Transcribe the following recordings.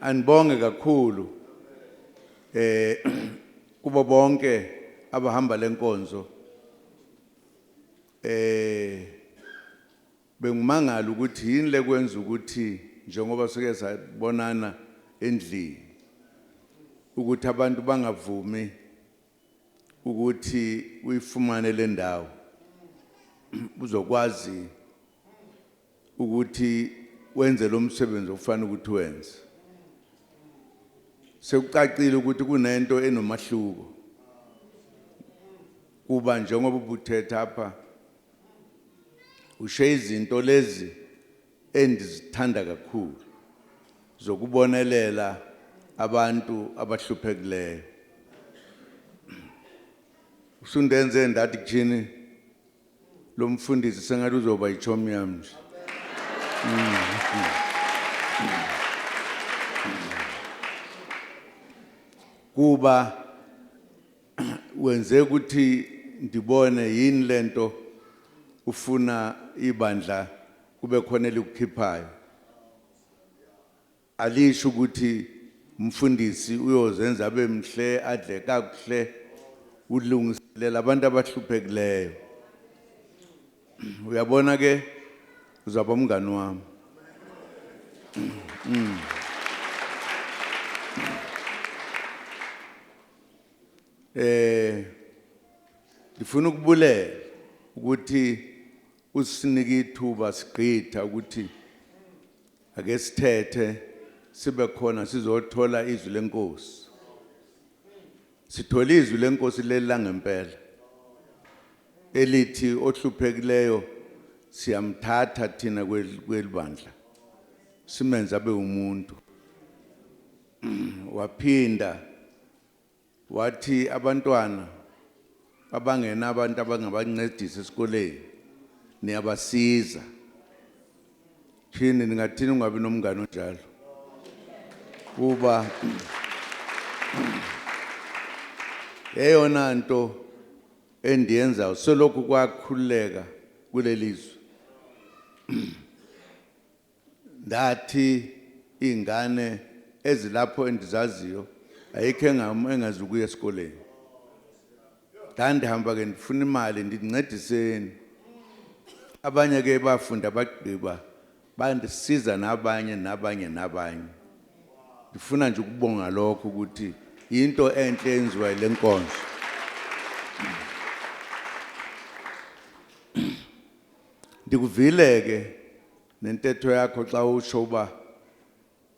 Anibonge kakhulu eh kubo bonke abahamba lenkonzo eh bengumangala ukuthi yini lekwenza ukuthi njengoba sike sabonana endlini ukuthi abantu bangavumi ukuthi uyifumane le ndawo uzokwazi ukuthi wenze lo msebenzi okufanele ukuthi wenze. Sekucacile ukuthi kunento enomahluko kuba njengoba ubuthetha apha ushe izinto lezi endizithanda kakhulu zokubonelela abantu abahluphekileyo usundenze ndathi kuthini Lo mfundisi sengathi uzoba yichomi yami nje. Kuba wenze ukuthi ndibone yini lento ufuna ibandla kube khona elikukhiphayo. Alisho ukuthi umfundisi uyozenza abe mhle adle kakuhle ulungiselela abantu abahluphekileyo. Uyabona ke uzaba umngani wami. Mm. Eh ngifuna ukubulela ukuthi Usinika ithuba sigqitha ukuthi ake sithethe sibe khona sizothola izwi lenkosi. Sithola izwi lenkosi leli langempela elithi ohluphekileyo siyamthatha thina kwel- kwelibandla simenze abe umuntu waphinda Wathi abantwana abangenabantu abangabancedisa esikoleni niyabasiza. Shini ningathini ungabi nomngane onjalo? Kuba eyona nto endiyenzayo selokhu kwakhululeka kuleli zwe Ndathi iy'ngane ezilapho endizaziyo ayikho engazi ukuya esikoleni. Ndandihamba-ke ndifuna imali ndithi ncediseni. Abanye ke bafunda bagqiba bandisiza nabanye nabanye nabanye. Ndifuna nje ukubonga lokho ukuthi yinto enhle eyenziwa yile nkonzo. Ndikuvile-ke Nentetho yakho xa usho uba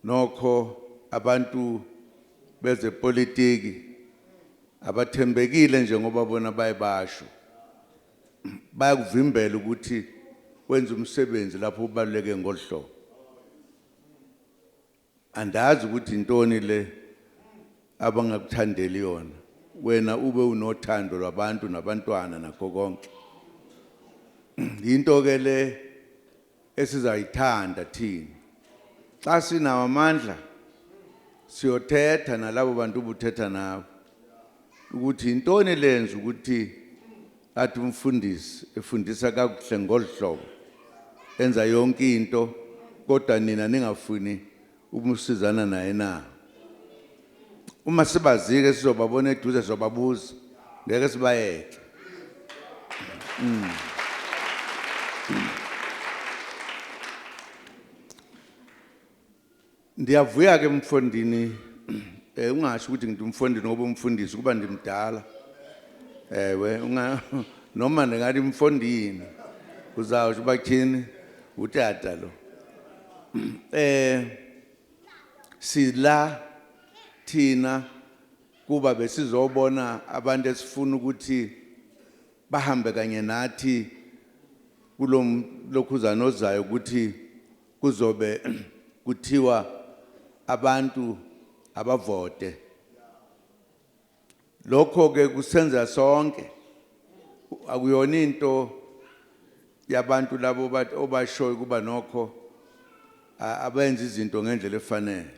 nokho abantu bezepolitiki abathembekile njengoba bona baye basho. Bayakuvimbela ukuthi wenze umsebenzi lapho ubaluleke ngolu hlobo. Andazi ukuthi yintoni le abangakuthandeli yona, wena ube unothando lwabantu nabantwana nakho konke. Yinto-ke le esizayithanda thina. Xa sinawo amandla, siyothetha nalabo bantu ubuthetha nabo ukuthi yintoni elenza ukuthi Athi umfundisi efundisa kakuhle ngolhlobo enza yonke into kodwa nina ningafuni ukumsizana naye na? Uma sibazike sizobabona eduze sobabuza ngeke sibayeke. Mm. Ndiyavuya ke mfondini eh ungasho ukuthi ngidumfondini ngoba umfundisi kuba ndimdala. Ewe unga noma ndingathi mfondini uzawusho bathini utata lo. Eh sila thina kuba besizobona abantu esifuna ukuthi bahambe kanye nathi kulokhuzana ozayo ukuthi Kuzobe kuthiwa abantu abavote. Lokho ke kusenza sonke. Akuyona into yabantu labo bathi obashoyo kuba nokho abenza izinto ngendlela efanele.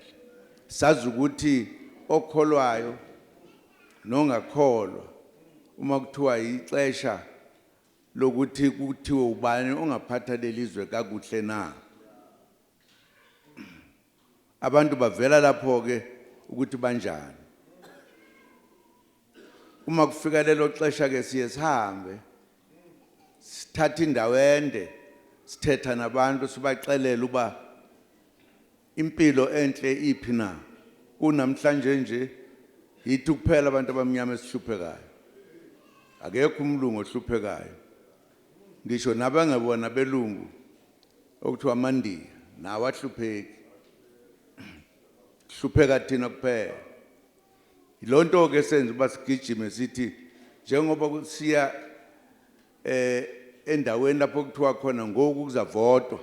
Sazi ukuthi okholwayo nongakholwa uma kuthiwa ixesha lokuthi kuthiwe ubani ongaphatha lelizwe kakuhle na abantu bavela lapho ke ukuthi banjani uma kufika lelo xesha ke siye sihambe sithatha indawo ende sithetha nabantu sibaxelela uba Impilo enhle iphi na? Kunamhlanje nje, yithi kuphela abantu abamnyama esihluphekayo. Akekho umlungu ohluphekayo. Ngisho nabangebona abelungu, okuthiwa amaNdiya, nawo ahlupheki. Sihlupheka thina kuphela. Yilo nto-ke esenza uba sigijime sithi njengoba siya um endaweni lapho kuthiwa khona ngoku kuzavotwa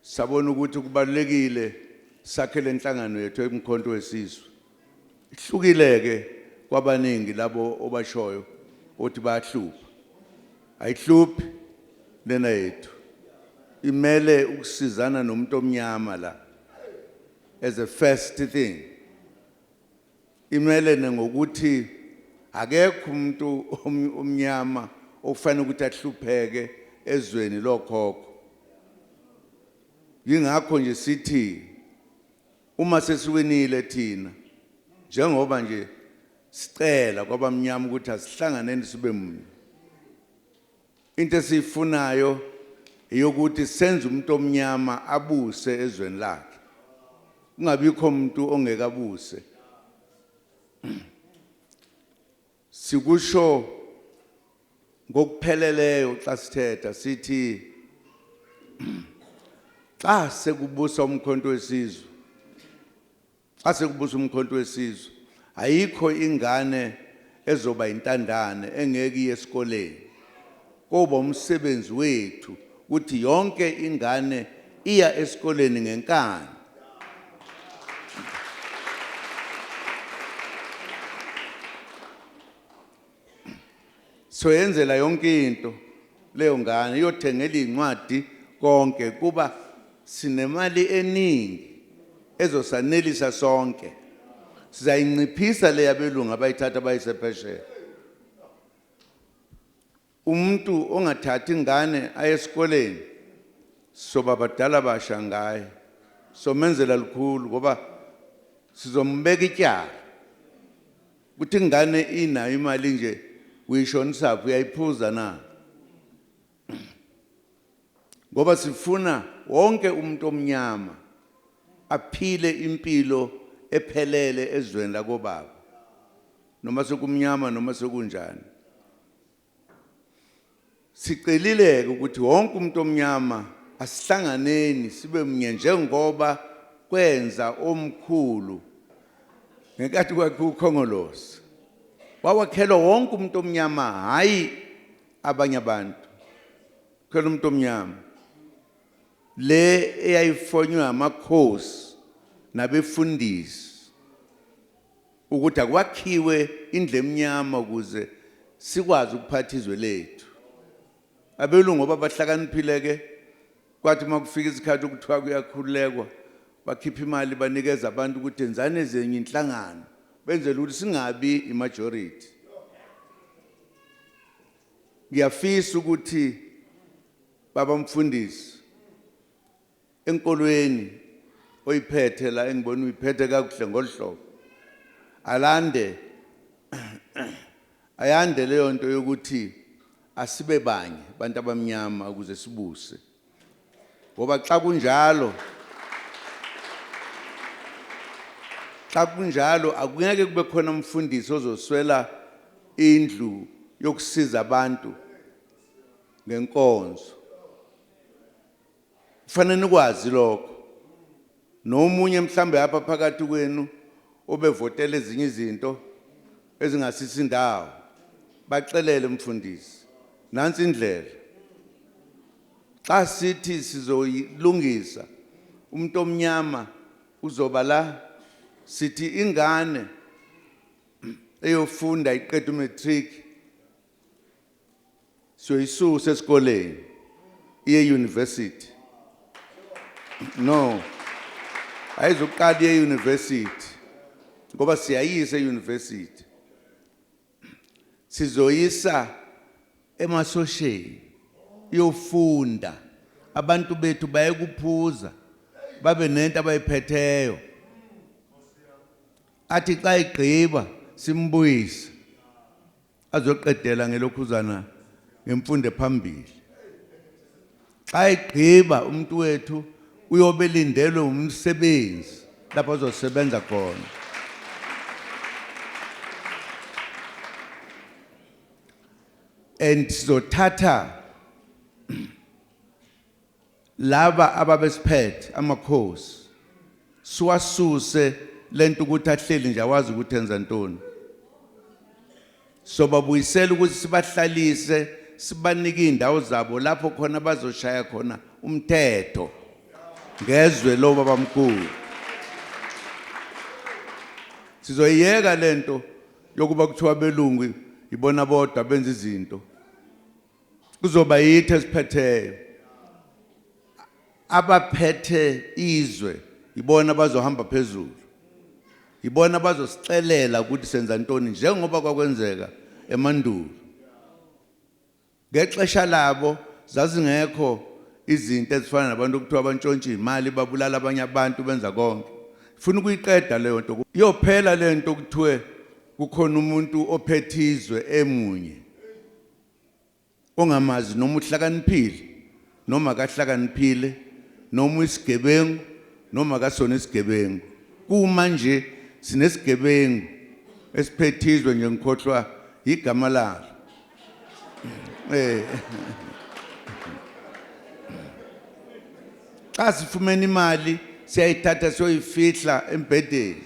sabona ukuthi kubalulekile sakhe lenhlangano yethu emkhonto wesizwe ihlukile ke kwabaningi labo obashoyo othi bayahlupha ayihluphi lena yethu imele ukusizana nomuntu omnyama la as a first thing Imelene ngokuthi akekho umuntu omnyama okufanele ukuthi ahlupheke ezweni lokhokho. Yingakho nje sithi uma sesiwinile thina njengoba nje sicela kwabamnyama ukuthi asihlanganeni sibe munye. Into esiyifunayo eyokuthi senze umuntu omnyama abuse ezweni lakhe kungabikho umuntu ongeke abuse sikusho ngokupheleleyo xa sithetha sithi xa sekubusa umkhonto wesizwe Xa sekubusa uMkhonto weSizwe, ayikho ingane ezoba yintandane engeke iye esikoleni. Koba umsebenzi wethu ukuthi yonke ingane iya esikoleni ngenkani. soyenzela yonke into leyo ngane iyothengela izincwadi konke kuba sinemali eningi ezosanelisa sonke sizayinciphisa le yabelungu abayithatha bayise phesheya umuntu ongathathi ingane aye esikoleni soba badala basha ngaye somenzela lukhulu ngoba sizombeka ityala Kuthi ingane inayo imali nje uyishonisaphi uyayiphuza na? Ngoba sifuna wonke umuntu omnyama aphile impilo ephelele ezweni lakobaba noma sekumnyama noma sekunjani Sicelile-ke ukuthi wonke umuntu omnyama asihlanganeni sibe mnye njengoba kwenza omkhulu ngenkathi kwakhiwa uKhongolose. Wawakhelwa wonke umuntu omnyama hhayi abanye abantu. Khela umuntu omnyama. Le eyayifonywa amakhosi nabefundisi Ukuthi akwakhiwe indlu emnyama ukuze sikwazi ukuphatha izwe lethu. Abelungu ngoba bahlakaniphile ke kwathi uma kufika isikhathi okuthiwa kuyakhululekwa bakhipha imali banikeza abantu ukuthi enzani ezenye inhlangano benzele ukuthi singabi imajority. Ngiyafisa ukuthi baba mfundisi enkolweni oyiphethe la engibona uyiphethe kakuhle ngoluhlobo alande ayande leyo nto yokuthi asibe banye abantu abamnyama ukuze sibuse ngoba xa kunjalo xa kunjalo akungeke kube khona umfundisi ozoswela indlu yokusiza abantu ngenkonzo Kufanele nikwazi lokho. Nomunye mhlambe apha phakathi kwenu obevotela ezinye izinto ezingasisi indawo. Baxelele mfundisi. Nansi indlela. Xa sithi sizoyilungisa umuntu omnyama uzoba la sithi ingane eyofunda iqeda umatric siyoyisusa esikoleni iye university no ayizoqala iye university ngoba siyayisa euniversity sizoyisa emasosheni yofunda abantu bethu bayekuphuza babe nento abayiphetheyo athi xa igqiba simbuyise azoqedela ngelokhuzana ngemfundo ephambili xa egqiba umuntu wethu uyobe lindelwe umsebenzi lapho azosebenza khona and sizothatha Laba ababesiphethe amakhosi siwasuse lento ukuthi ahleli nje awazi ukuthi enza ntoni. Sobabuyisela ukuthi sibahlalise sibanike izindawo zabo lapho khona bazoshaya khona umthetho ngezwe lo babamkhulu. Sizoyiyeka lento yokuba kuthiwa belungu ibona bodwa benza izinto. kuzoba yithi esiphetheyo abaphethe izwe yibona bazohamba phezulu yibona bazosixelela ukuthi senza ntoni njengoba kwakwenzeka emandulo ngexesha labo zazingekho izinto ezifana nabantu okuthiwa abantshontshe imali babulala abanye abantu benza konke funa ukuyiqeda leyo nto yophela lento kuthiwe kukhona umuntu ophethizwe emunye ongamazi noma uhlakaniphile noma akahlakaniphile noma uyisigebengu noma akasona isigebengu kuma nje sinesigebengu esiphethizwe nje ngikhohlwa igama lalo eh Xa sifumene imali siyayithatha siyoyifihla embhedeni.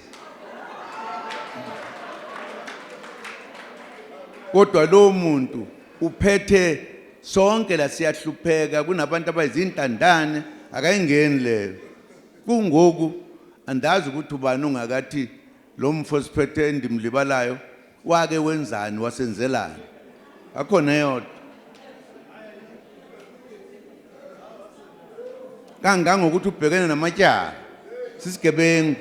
Kodwa lowo muntu uphethe sonke la siyahlupheka kunabantu abayizintandane akayingeni leyo. Kungoku andazi ukuthi ubani ongakathi Lomfo siphethe endimlibalayo wake wenzani wasenzelani akho neyodwa kangangokuthi ubhekene namatyala sisigebengu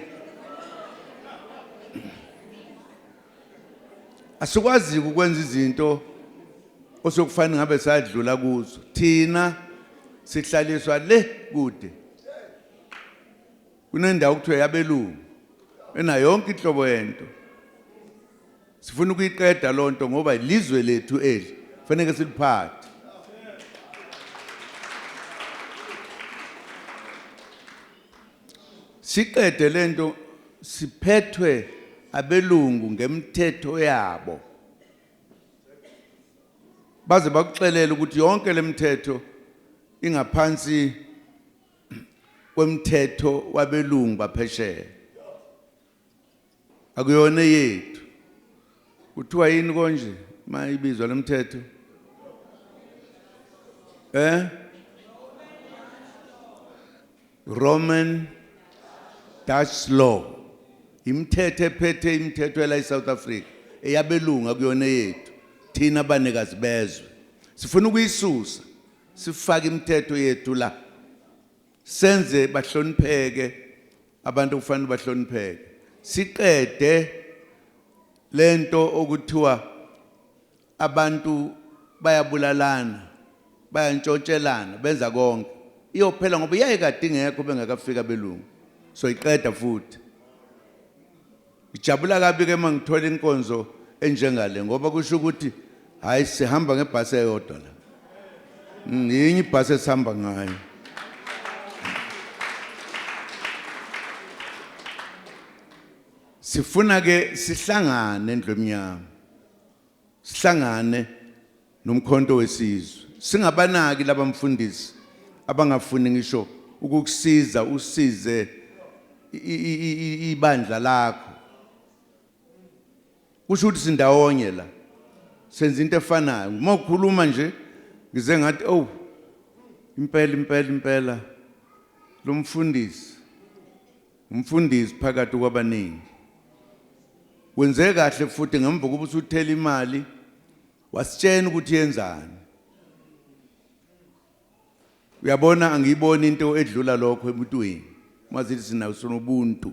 asikwazi ukwenza izinto osokufanele ngabe sadlula kuzo thina sihlaliswa le kude kunendawo kuthiwa yabelungu ena yonke inhlobo yento sifuna ukuyiqeda loo nto ngoba ilizwe lethu eli faneke siliphathe siqede le nto siphethwe abelungu ngemthetho yabo baze bakuxelela ukuthi yonke le mthetho ingaphansi kwemthetho wabelungu baphesheya akuyona yethu kuthiwa yini konje mayibizwa lomthetho eh Roman Dutch law imithetho ephethe imithetho ela eSouth Africa eyabelungu akuyona yethu thina banikazi bezwe sifuna ukuyisusa Sifake imithetho yethu la. Senze bahlonipheke abantu kufanele bahlonipheke. Siqede lento okuthiwa abantu bayabulalana, bayantshotshelana, benza konke. Iyophela ngoba iyayekade ingekho bengakafika belungu. Soyiqeda futhi. Ngijabula kabi ke mangithola inkonzo enjengale ngoba kusho ukuthi hayi sihamba ngebhasi eyodwa la. Ngiyinye ibhasi esihamba ngayo. Sifuna ke sihlangane endlwemnyama. Sihlangane noMkhonto weSizwe. Singabanaki laba mfundisi abangafuni ngisho ukukusiza usize ibandla lakho. Kusho ukuthi sindawonye la. Senza into efanayo. Uma ukhuluma nje ngize ngathi oh impela impela impela lo mfundisi Umfundisi phakathi kwabaningi. Wenze kahle futhi ngemva kokuba usuthela imali wasitshena ukuthi yenzani. Uyabona angiyiboni into edlula lokho emntwini. Mazithi sinawo sonobuntu.